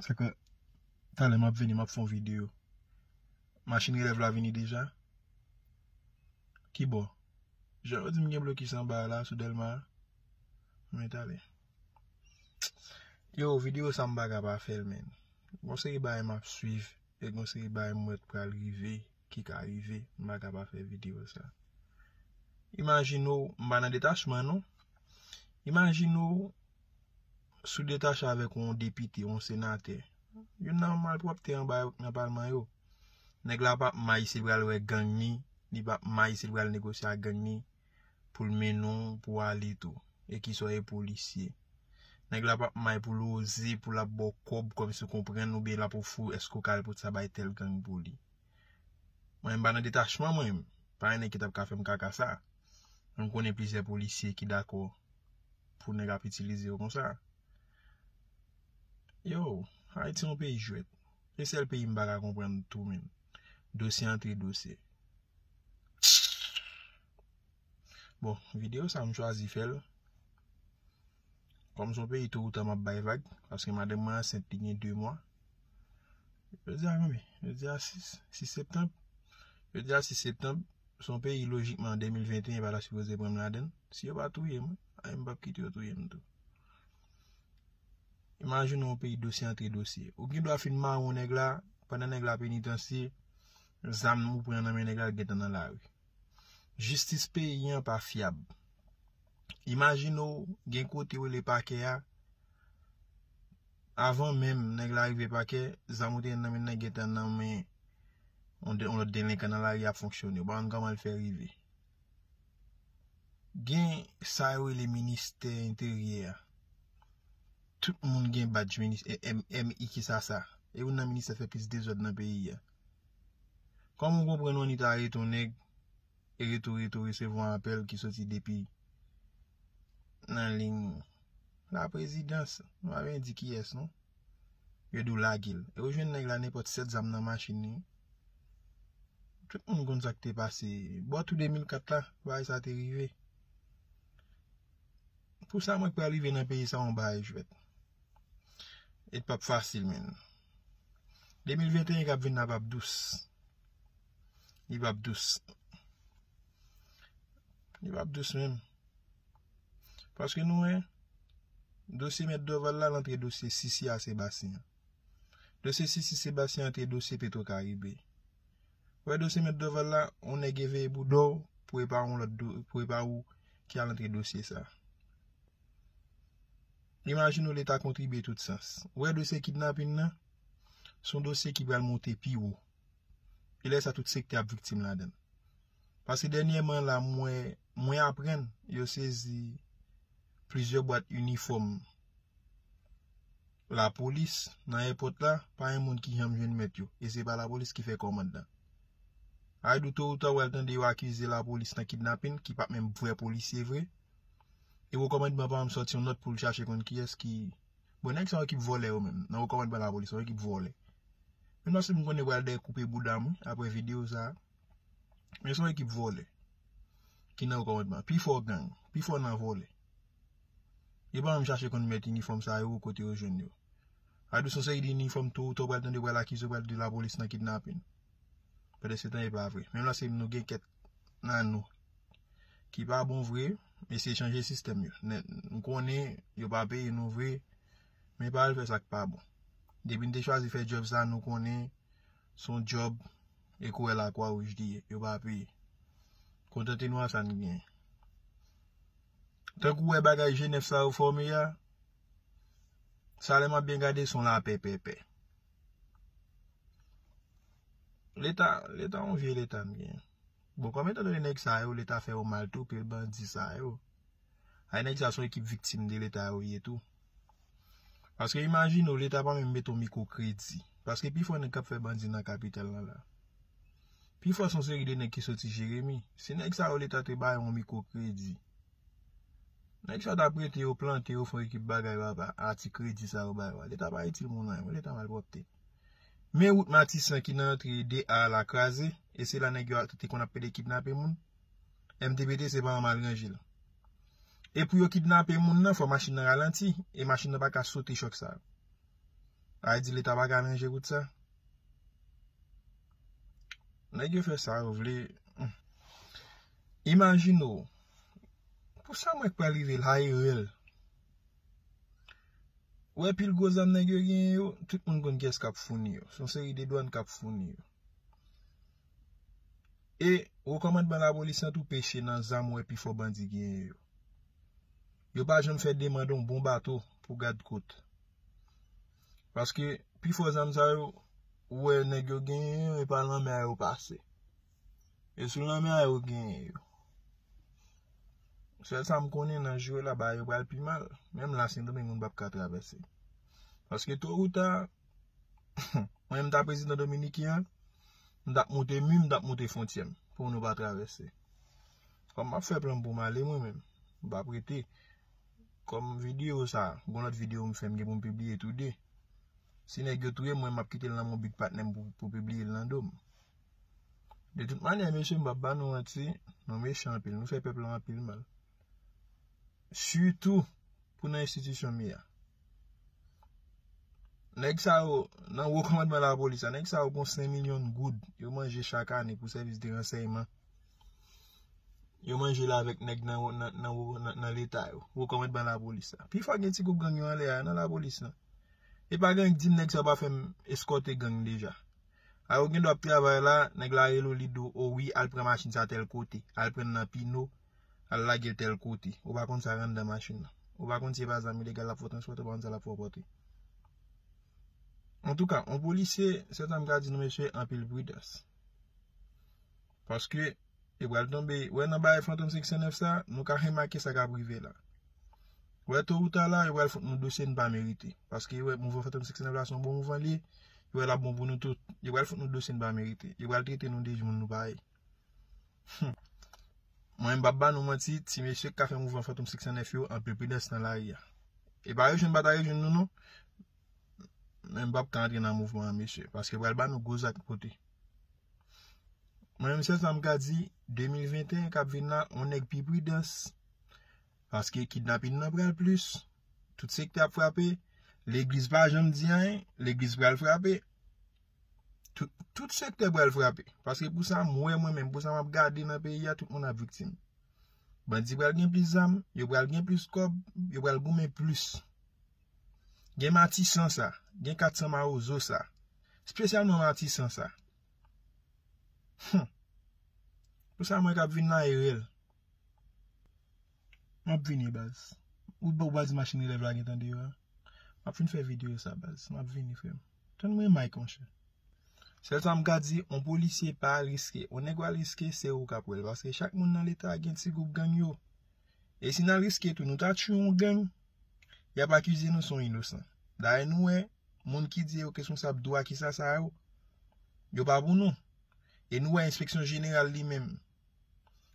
Sa ka Talè map vini map fon video Machin relèv la vini deja Kibò Jan yo dim gen blokis anba a la sou delma a Mwen talè Yo video sa mpa ka pa fèl menn Gon seri bagay map swiv E gon seri bagay mwen wè pral rive Ki ka rive Mpa ka pa fè video sa Imajine ou Mpa nan detachman non Imajine ou sou detache avèk yon depite, yon senatè, youn nan malpwòpte anba yo nan palman yo. Nèg la pa ap may si l pral wè gang ni, li pa ap may si l pral negosye ak gang ni, pou l mennen w pou w ale tou, e ki sa w ye polisye. Nèg la pa ap may pou l oze, pou l ap ba w kòb kòm si w konprann oubyen l ap ofri w èske w ka al pote sa bay tèl gang pou li. Mwen menm m pa nan detachman mwen, pa gen nèg ki t ap ka fè m kaka sa. Men m konnen plizyè polisye ki dakò. pou nèg ap itilize yo konsa Yow Haiti yon peyi jwèt Se sèl peyi m pa ka konprann tou menm Dosye antre dosye Bon videyo sa m chwazi fè l Kòm se yon peyi to ou ta m ap bay vag paske madanm mwen ansent li gen 2 mwa Jodi a konbyen Jodi a 6 6 septanm Jodi a 6 septanm Se yon peyi lojikman an 2021 yo pa ta sipoze pran m ladan l Si yo pa touye mwen, a m pap kite yo touye m tou. Imajine yon peyi dosye antre dosye. Ou gen dwa fin mawon nèg la, pandan nèg la penitansye, zam ou pran nan men nèg la l gentan nan lari. Jistis peyi an pa fyab. Imajine ou gen kote yo rele pakè a, avan menm nèg la rive pakè, zam ou te gen nan men nan gentan nan men yon lòt delenkan nan lari ap fonksyone. Ou pa konn kòman l fè rive. Gen sa yo rele ministè enteryè a. Tout moun gen badj ministè MIK sa sa. E youn nan ministè fè plis dezòd nan peyi a. Kòm ou konprann ONI ta arete yon nèg e rete ou rete ou resevwa apèl ki soti depi. nan ligne la présidence nou pa byen di kiyès non yo diw lagel e ou jwenn nèg la nenpòt 7 zam nan machin li tout moun konn sak te pase bò tou 2004 la bagay sa te rive pou sa mwen t pral rive nan peyi sa yon bagay jwèt e t pap fasil menn 2021 kap vin la pap dous. Li pap dous. Li pap dous menm. Paske nou wè, dosye mèt Dorval la lantre dosye Sisi a Sebastien. Dosye Sisi Sebastien antre dosye Petro Karibe. Wè dosye mèt Dorval la, ou nèk e veye bou do, pou e pa ou lòt do, pou e pa ou ki a lantre dosye sa. Imagine ou leta kontribye tout sans. Wè dosye kidnapin nan, son dosye ki pral monte pi ou. E lè sa tout sektè ap viktim ladan. Paske dènyèman la mwen aprann yo sezi plizyè bwat inifòm lapolis nan èpòt la pa yon moun ki janm jwenn mèt yo. E se pa lapolis ki fè kòmand nan. Ay do to ou ta wèl tande yo akize lapolis nan kidnapin ki pa menm vrè polisye vre. E wou kòmandman pa menm sòti yon nòt pou l chache konn kiyès ki. Bon nèg sa yo ki vòlè yo menm nan wo kòmandman lapolis yo ki vòlè menm paske m konnen yo pral dèyè koupe boudam wi aprè video sa men son ekip vòlè ki nan wo kòmandman pi fò gang pi fò nan vòlè yo pa menm chache konn mèt inifòm sa yo kote yo jwenn yo adou son seri de inifòm to ou ta w pral tande yo pral akize yo pral di lapolis nan kidnape nou pèdèsetan epa vre menm la se nou gen kèt. nan nou ki pa bon vre eseye chanje sistèm yo nèt nou konnen yo pa peye nou vre men pa al fè sak pa bon depi nou te chwazi fè djòb sa nou konnen son djòb e kouwè la kwa wouj li ye yo pa peye kontante nou a sa nou genyen tankou wè bagay jenèf sa yo fòme ya sa lè map byen gade son la pèpèpè. Leta, leta yon vye leta nou gen. Bon, kòm etan donè nèg sa yo, leta fè yo mal tou, pil bandi sa yo. Ay nèg sa yo son ekip viktim de leta yo ye tou. Paske imajine ou, leta pa menm mete yon mikwo kredi. Paske pi fò nèg k ap fè bandi nan kapital lan la. Pi fò son seri de nèg ki soti Jeremi. Si nèg sa yo leta te bay yon mikwo kredi. Nèg sa ta prete yo, plante yo, fon ekip bagay papa, a ti kredi sa yo ba yo a. Leta pa itil moun anyen mwen, leta malpwòpte. Men wout matisan ki nan antre 2 a la kraze, e se la nèg yo te konn ap pede kidnape moun. MTBT se pa yon mal ranje l. E pou yo kidnape moun nan, fò machin nan ralanti, e machin nan pa ka sote chòk sa yo. A e di leta pa ka ranje wout sa. Nèg yo fè sa yo vle. Imajine w, Pou sa mwen k pral rive la e rèl. Ou wè pil gwo zam nèg yo genyen yo, tout moun konn kiyès k ap founi yo. Se yon seri de dwàn k ap founi yo. E wo kòmandman lapolis lan tou peche nan zam ou wè pi fò bandi genyen yo. Yo pa janm fè demand yon bon bato pou gad kot. Paske pi fò zam sa yo ou wè nèg yo genyen yo e pa lanmè a yo pase. E sou lanmè a yo genyen yo. Sèl sa m konnen nan jou yo la bagay yo pral pi mal. Menm la Sendomeng moun pap ka travèse. Paske to ou ta, mwen menm m ta prezidan Dominiken an, m tap moute mi, m tap moute fontyè m pou nou pa travèse. Kòm m ap fè plan m pou m ale mwen menm. M pap rete. Kòm videyo sa, gon lòt videyo m fè m gen pou m pibliye tou de. Si nèg yo touye m mwen m ap kite l nan men yon big patnè m pou pibliye l nan do m. De tout manyè mesye m pap ba nou manti, nou mechan anpil, nou fè pèp lan anpil mal. Sitou pou nan enstitisyon mi a. Nèg sa yo, nan wo kòmandman lapolis la, nèg sa yo gon 5 milyon goud yo manje chak ane pou sèvis de ransèyman. Yo manje la avèk nèg nan leta yo, wo kòmandman lapolis la. Pi fò gen ti gwoup gang yo anlè a, nan lapolis la. E pa gen ank di m nèg sa yo pa fè m eskòte gang deja. A yo gendwa ap travay la, nèg la rele w li di w o wi al pran machin sa tèl kote, al pran l nan pino, al lage l tèl kote, ou pa konn sa k anndan machin nan. Ou pa konn si e pa zam ilegal l ap fè w transpòte, ou pa konn sa l ap fè w pòte. Antouka, yon polisye, sèl sa m ka di nou mesye, anpil pridans. Paske, yo pral tonbe. Wè nan bagay Fantom 509 sa, nou ka remake sa k ap rive la. Wè to ou ta la, yo pral fout nou dosye nou pa merite. Paske yo wè mouvan Fantom 509 la se yon bon mouvan li ye. Yo wè l ap bon pou nou tout. Yo pral fout nou dosye nou pa merite. Yo pral trete nou de moun nou pa ye. Hum! Mwen menm m pap ba nou manti, ti mesye k ka fè mouvan Fantom 509 yo, anpil pridans nan lari a. E pa rejwenn pa ta rejwenn nou non. Men m pap ka antre nan mouvman an mesye. Paske yo pral ba nou gwo zak pote. Mwen menm sèl sa m ka di 2021 k ap vin la on nèg pi pridans paske kidnapin nan pral plis tout sektè ap frape legliz pa janm di anyen legliz pral frape tout sektè pral frape paske pou sa m wè mwen menm pou sa m ap gade nan peyi a tout moun ap viktim bandi pral gen plis zam yo pral gen plis kòb yo pral goumen plis Gen matisan sa, gen 400 mawozo sa, spesyalman matisan sa. Hum. Pou sa mwen kap vin nan erel. Map vini baz. Ou pa waz machin elèv la gen tan deyò a. Map fin fè video sa baz. Map vini frem. Tann mwen Mike monchè. Sèl sa m ka di, on polisye pa al riske. On nèg wal riske, se ou kap wèl. Paske chak moun nan leta gen ti gwoup gang yo. E si nal riske tou, nou ta tchwe on gang. Yap akize nou son inosan. Dayè nou wè, moun ki di yo keskonsab dwa kisa sa yo, yo pa pou nou. E nou wè enspeksyon jeneral li menm.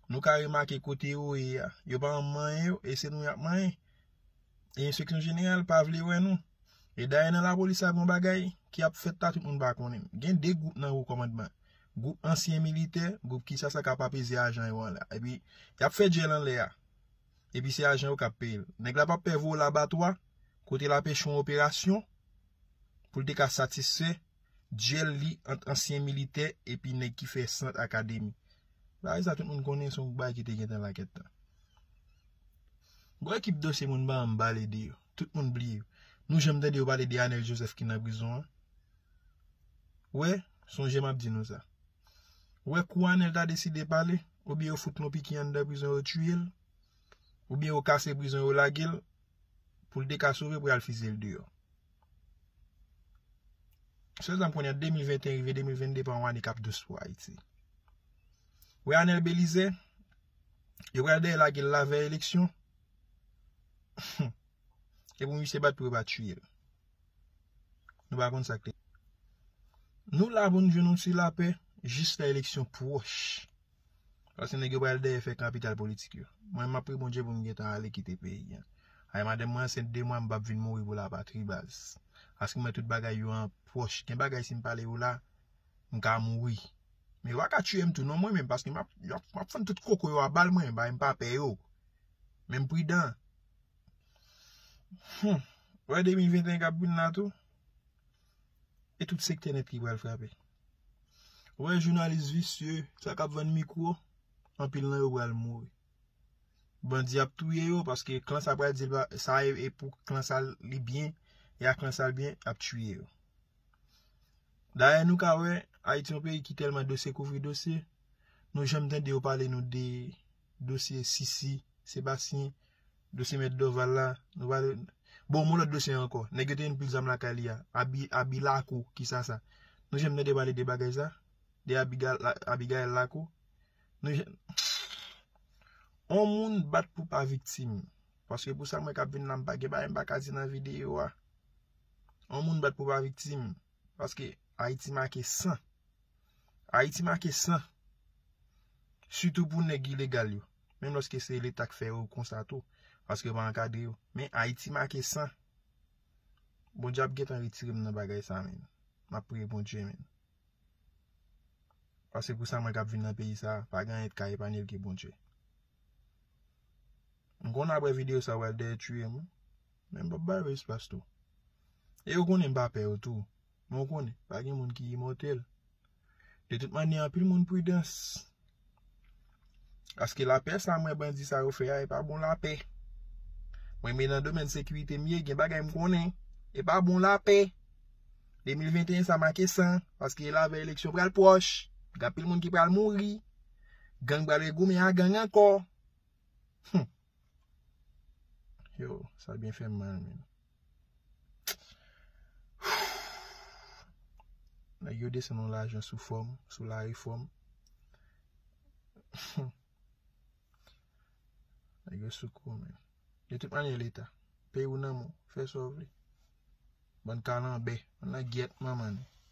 Nou ka remake kote yo ye a. Yo pa anm manyen yo, e se nou yap manyen. E enspeksyon jeneral pa vle wè nou. E dayè nan la polis la gon bagay ki ap fèt la tout moun pa konnen. Gen 2 gwoup nan wo komandman. Gwoup ansyen militè, gwoup kisa sa kap apeze ajan yo an la. E pi, yap fè djèl anlè a. epi se ajan yo k ap peye l. Nèg la pa p pè voye w labatwa kote l ap echwe yon operasyon pou l te ka satisfè dyèl li ant ansyen militè epi nèg ki fè sant akademi. Bagay sa tout moun konnen se yon bagay ki te gentan la kèt tan. Gwo ekip dosye moun pa janm pale de yo. Tout moun bliye yo. Nou janm tande yo pale de Anèl Jozèf ki nan prizon an? Wè, sonje m ap di nou sa. Ou wè kou Anel ta deside pale, oubyen yo fout Nonpiki anndan prizon yo tiye l, oubyen yo kase prizon yo lage l, pou l te ka sove pou y al fizye l deyò. Sè zanm kounye a 2021 rive 2022 pa yon ane k ap dous pou Ayiti. Ou wè Anel Belize, yo pral dèyè lage l lavèy eleksyon, e pou misye bat pou yo pa tiye l. Nou pa konn sa k te. Nou la pou nou jwenn yon ti lapè jis lè eleksyon pwòch. Paske nèg yo pral dèyè fè kapital politik yo. Mwen map priye Bondye pou m gentan ale kite peyi an. Ay madanm mwen ansent 2 mwa m pap vin mouri pou lapatri baz. Paske mwen tout bagay yo an pwòch. Gen bagay si m pale yo la m ka mouri. Men yo pa ka tiye m tou non mwen menm paske map fann tout koko yo a bal mwen. Bagay m pa pè yo. Men m pridan. Humm wè 2021 kap vin la tou e tout sektè nèt ki pral frape wè jounalis visye sa kap vann mikwo anpil nan yo pral mouri bandi ap touye yo paske klan sa pral di sa e pou klan sa li byen e ak klan sa byen ap touye yo dayè nou ka wè ayiti yon peyi ki tèlman dosye kouvri dosye nou janm tande yo pale nou de dosye sisi sebasyen Dosye mèt Dorval la, nou pa dwe Bon, m yon lòt dosye ankò. Nèg yo te vin pile zam lakay li a. Abi, abi lakou, ki sa sa? Nou janm tande pale de bagay sa? De abi ga, abi Gaëlle lakou? Nou janm On moun bat pou pa viktim. Paske pou sa mwen kap vin la m pa gen bagay m pa ka di nan videyo a. On moun bat pou pa viktim. Paske Ayiti make san. Ayiti make san. Sitou pou nèg ilegal yo. Menm lòske se leta k fè yo konsa tou. Paske yo pa ankadre yo. Men Ayiti make san. Bondye ap gentan retire m nan bagay sa men. M ap priye Bondye men. Paske pou sa mwen k ap vin nan peyi sa. Pa gen anyen ki ka epanye l ke Bondye. M konnen apre videyo sa yo pral dèyè tuye m. Men m pap ba yo espas tou. E yo konnen m pa pè yo tou. Men ou konnen, pa gen moun ki imòtèl. De tout manyè, anpil moun pridans. Paske lapè sa mwen bandi sa yo fè a, e pa bon lapè. Mwen men nan domèn sekirite m ye, gen bagay m konnen. E pa bon lapè. 2021 sa make san. Paske e lavè eleksyon pral pwòch. Gen anpil moun ki pral mouri. Gang pral re goumen a gang ankò. Hum! Yow sa byen fèm mal menn. Nèg yo desann yon lajan sou fòm, sou la refòm. Nèg yo sou kou menn. De tout manyè leta, peyi w nan men w, fè sa w vle. Bann kalanbè, al nan gyèt manman nou.